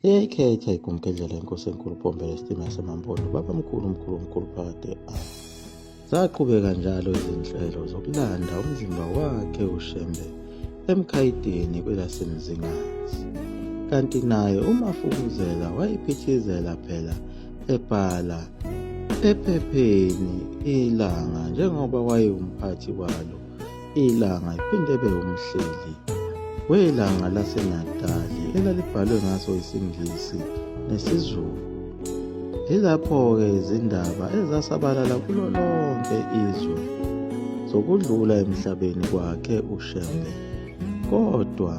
Iyayikhetha igumgedlela inkosi enkulu pombela isitima yasemampondo baba mkhulu mkhulu mkhulu phakade a zaqhubeka njalo izinhlelo zokulanda umzimba wakhe ushembe emkhayidini kwelasemzingazi kanti naye umafukuzela wayiphithizela phela ebhala ephepheni ilanga njengoba wayewumphathi walo Ilanga iphinde ibe umhleli welanga laseNatali elalibhalwe ngaso isiNgisi nesiZulu. Yilapho-ke izindaba ezasabalala kulo lonke izwe zokudlula emhlabeni kwakhe uShembe. Kodwa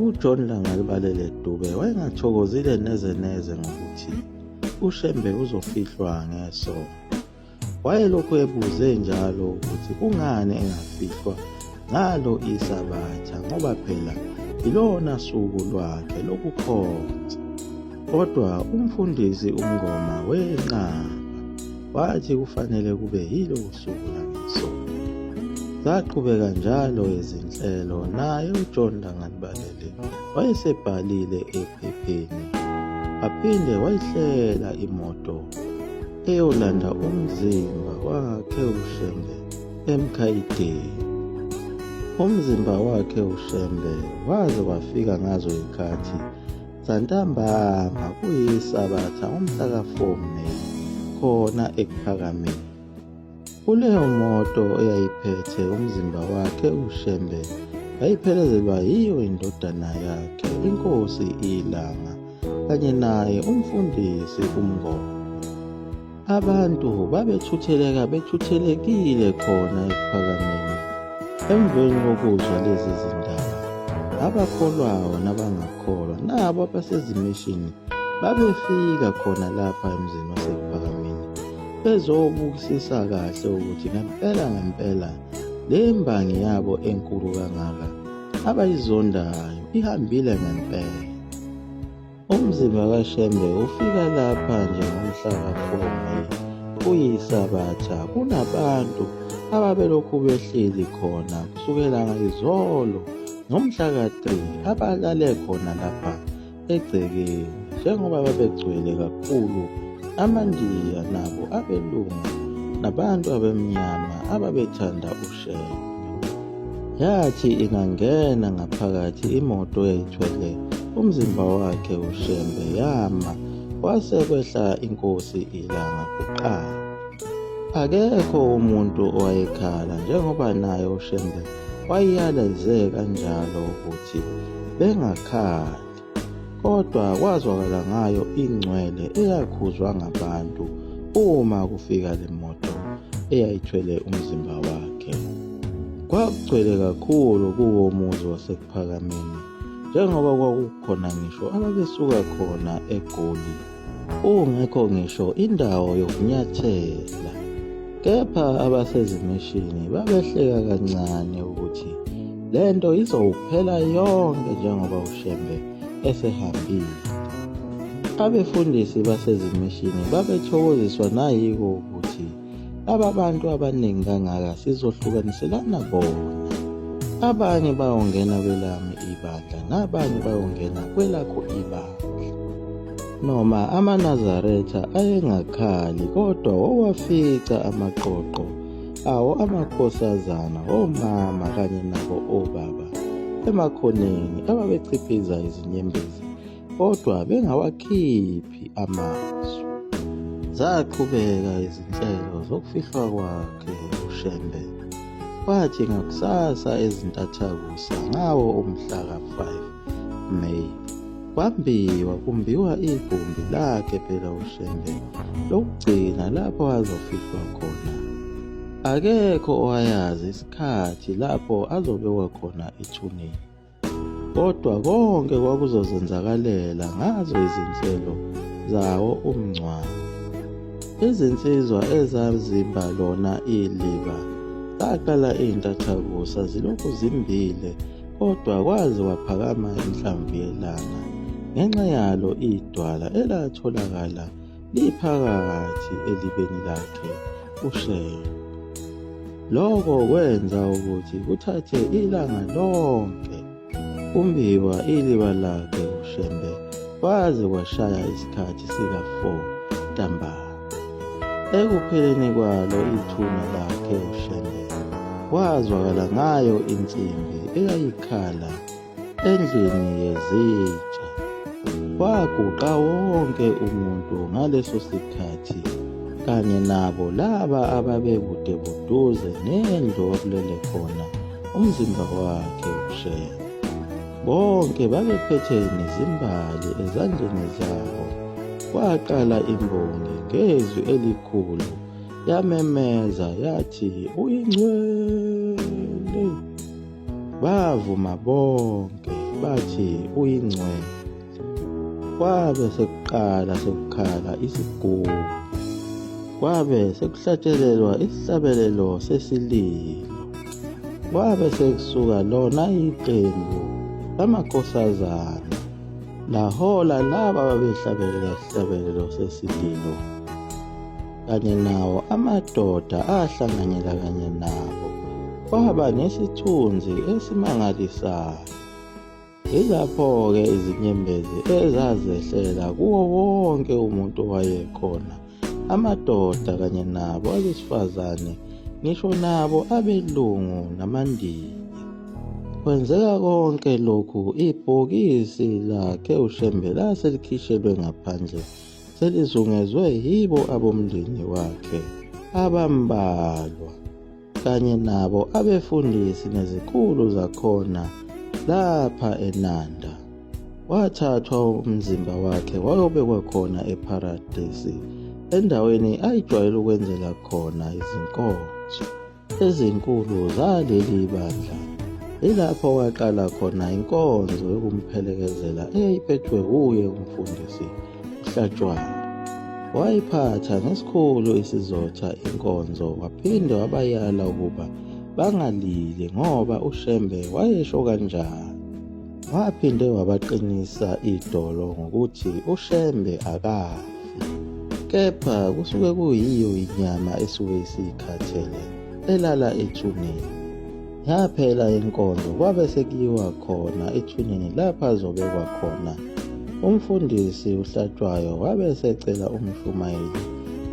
uJohn Langalibalele Dube wayengathokozile neze neze ngokuthi uShembe uzofihlwa ngeso. Wayelokhu ebuze njalo ukuthi kungani engafihlwa ngalo isabatha ngoba phela ilona suku lwakhe lokukhonza. Kodwa umfundisi uMngoma wenqaba wathi kufanele kube yilo suku langesonto. Zaqhubeka njalo izinhlelo naye uJohn Langalibalele wayesebhalile ephepheni aphinde wayihlela imoto eyolanda umzimba wakhe uShembe emkhayideni. Umzimba wakhe uShembe waze wafika ngazo ikhathi zantambama kuyisabatha umhla ka-4 May khona eKuphakameni. Kuleyo moto eyayiphethe umzimba wakhe uShembe yayiphelezelwa yiyo indodana yakhe inkosi ilanga kanye naye umfundisi umngoma. Abantu babethutheleka bethuthelekile khona ekuphakameni emveni kokuzwa lezi zindaba. Abakholwayo nabangakholwa nabo abasezimishini babefika khona lapha emzini wasekuphakameni bezobukisisa kahle ukuthi ngempela ngempela le mbangi yabo enkulu kangaka abayizondayo ihambile ngempela umzimba kashembe ufika lapha nje ngomhla kafomayi kuyisabatha kunabantu ababelokhu behleli khona kusukela ngayizolo ngomhla ka-3 abalale khona lapha egcekeni njengoba babegcwele kakhulu amandiya nabo abelungu nabantu abemnyama ababethanda ushenge yathi ingangena ngaphakathi imoto yayithwele umzimba wakhe ushembe yama kwase kwehla inkosi ilanga kuqala akekho umuntu owayekhala njengoba naye ushembe wayiyaleze kanjalo ukuthi bengakhali kodwa kwazwakala ngayo ingcwele eyakhuzwa ngabantu uma kufika le moto eyayithwele umzimba wakhe kwakugcwele kakhulu kuwo muzi wasekuphakameni njengoba kwakukhona ngisho ababesuka khona egoli Kungekho ngisho indawo yokunyathela. Kepha abasezimishini babehleka kancane ukuthi le nto izowuphela yonke njengoba uShembe esehambile. Abefundisi basezimishini babethokoziswa nayiko Laba bantu abaningi kangaka sizohlukaniselana bona. Abanye bayongena kwelami ibandla nabanye bayongena kwelakho ibandla. Noma amaNazaretha ayengakhali kodwa wawafica amaqoqo awo amakhosazana omama kanye nabo obaba emakhoneni ababechiphiza izinyembezi kodwa bengawakhiphi amazwi. Zaqhubeka izinhlelo zokufihlwa kwakhe uShembe, kwathi ngakusasa ezintathakusa ngawo umhla ka-5 May kwambiwa kumbiwa igumbi lakhe phela uShembe lokugcina lapho azofihlwa khona. Akekho owayazi isikhathi lapho azobekwa khona ethuneni. Kodwa konke kwakuzozenzakalela ngazo izinhlelo zawo umngcwabo. Izinsizwa ezazimba lona iliba zaqala izintathakusa zilokhu zimbile kodwa kwaze kwaphakama inhlamvu yelanga ngenxa yalo idwala elatholakala liphakathi elibeni lakhe ushela. Lokho kwenza ukuthi kuthathe ilanga lonke kumbiwa iliba lakhe ushembe kwaze kwashaya isikhathi sika-4 ntambama. Ekupheleni kwalo ithuna lakhe ushembe kwazwakala ngayo insimbi eyayikhala Endlini yezitsha kwaguqa wonke umuntu ngaleso sikhathi kanye nabo laba ababekude buduze nendlu okulele khona umzimba wakhe ushela bonke babephethe nezimbali ezandleni zabo kwaqala imbongi ngezwi elikhulu yamemeza yathi uyingcwele Bavuma bonke bathi uyingcwele. Kwabe sekuqala sekukhala isigubu. Kwabe sekuhlatshelelwa isihlabelelo sesililo. Kwabe sekusuka lona iqembu lamakhosazana lahola laba babehlabelela isihlabelelo sesililo. kanye nawo amadoda ahlanganyela kanye nabo kwaba nesithunzi esimangalisayo yilapho-ke izinyembezi ezazehlela kuwo wonke umuntu owayekhona amadoda kanye nabo abesifazane ngisho nabo abelungu namandiya kwenzeka konke lokhu ibhokisi lakhe ushembe lase likhishelwe ngaphandle selizungezwe yibo abomndeni wakhe abambalwa kanye nabo abefundisi nezikhulu zakhona lapha eNanda. Wathathwa umzimba wakhe wayobekwa khona ePharadesi endaweni ayijwayele ukwenzela khona izinkonzo. ezinkulu zaleli bandla ilapho kwaqala khona inkonzo yokumphelekezela eyayiphethwe wuye umfundisi uhlatshwayo wayiphatha ngesikhulu isizotha inkonzo waphinde wabayala ukuba bangalili ngoba ushembe wayesho kanjani Waphinde wabaqinisa idolo ngokuthi uShembe akafi kepha kusuke kuyiyo inyama esuke isiyikhathele elala ethuneni. Yaphela inkonzo kwabe sekuyiwa khona ethuneni lapha azobekwa khona. Umfundisi uHlatshwayo wabe esecela umshumayeli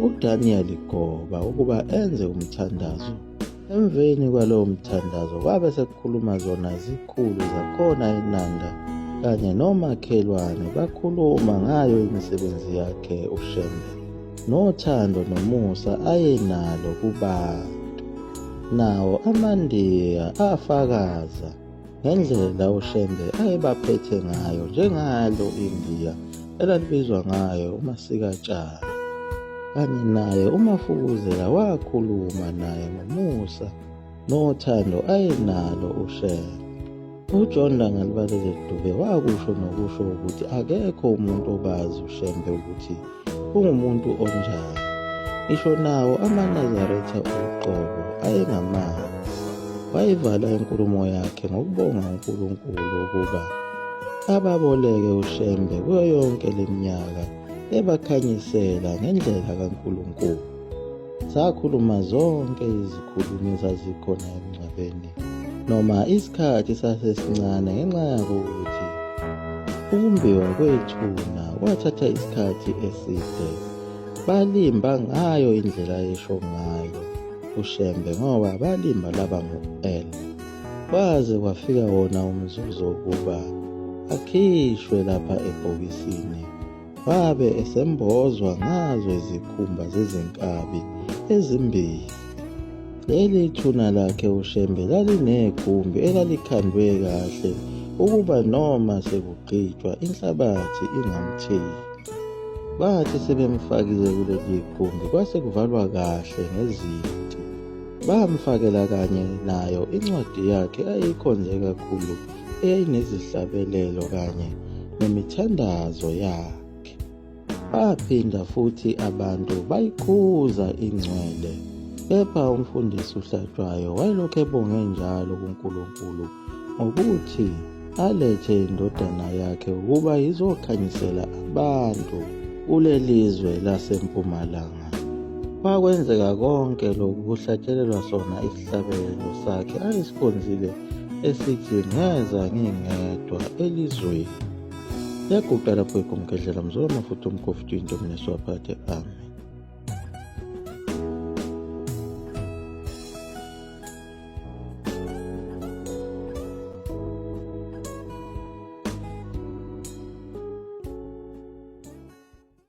uDaniel Goba ukuba enze umthandazo. Emveni kwalowo mthandazo kwabe sekukhuluma zona izikhulu zakhona eNanda kanye nomakhelwane bakhuluma ngayo imisebenzi yakhe uShembe nothando nomusa ayenalo kubantu. Nawo amaNdiya afakaza ngendlela uShembe ayebaphethe ngayo njengalo India elalibizwa ngayo uMasikatshana kanye naye uMafukuzela wakhuluma naye ngomusa nothando ayenalo uShembe uJohn Langalibalele Dube wakusho nokusho ukuthi akekho umuntu obazi uShembe ukuthi ungumuntu onjani ngisho nawo amanazaretha uqobo ayengamazi wayivala inkulumo yakhe ngokubonga unkulunkulu ukuba ababoleke ushembe kuyo yonke le minyaka ebakhanyisela ngendlela kankulunkulu Sakhuluma zonke izikhulumi ezazikhona emngcwabeni noma isikhathi sasesincane ngenxa yakuthi ukumbiwa kwethuna kwathatha isikhathi eside. Balimba ngayo indlela esho ngayo uShembe ngoba balimba laba ngo-L. Kwaze kwafika wona umzuzu wokuba akhishwe lapha ebhokisini. Wabe esembozwa ngazo izikhumba zezinkabi ezimbili. Leli thuna lakhe uShembe lalinegumbi elalikhandwe kahle ukuba noma sekugqitshwa inhlabathi ingamtheli. Bathi sebemfakile kuleli gumbi kwase kuvalwa kahle ngezinti. Bamfakela kanye nayo incwadi yakhe ayeyikhonze kakhulu enezihlabelelo kanye nemithandazo yakhe. Baphinda futhi abantu bayikhuza ingcwele, kepha umfundisi uHlatshwayo wayelokhu ebonge njalo kuNkulunkulu ngokuthi alethe indodana yakhe ukuba izokhanyisela abantu kuleli zwe lasempumalanga. Kwakwenzeka konke lokhu kuhlatshelelwa sona Isabelo sakhe ayisikhonzile esithi ngeza ngingedwa elizweni yaguqa lapho igumgedlela mzolo mafuthi umkofu into mina siwaphathe ami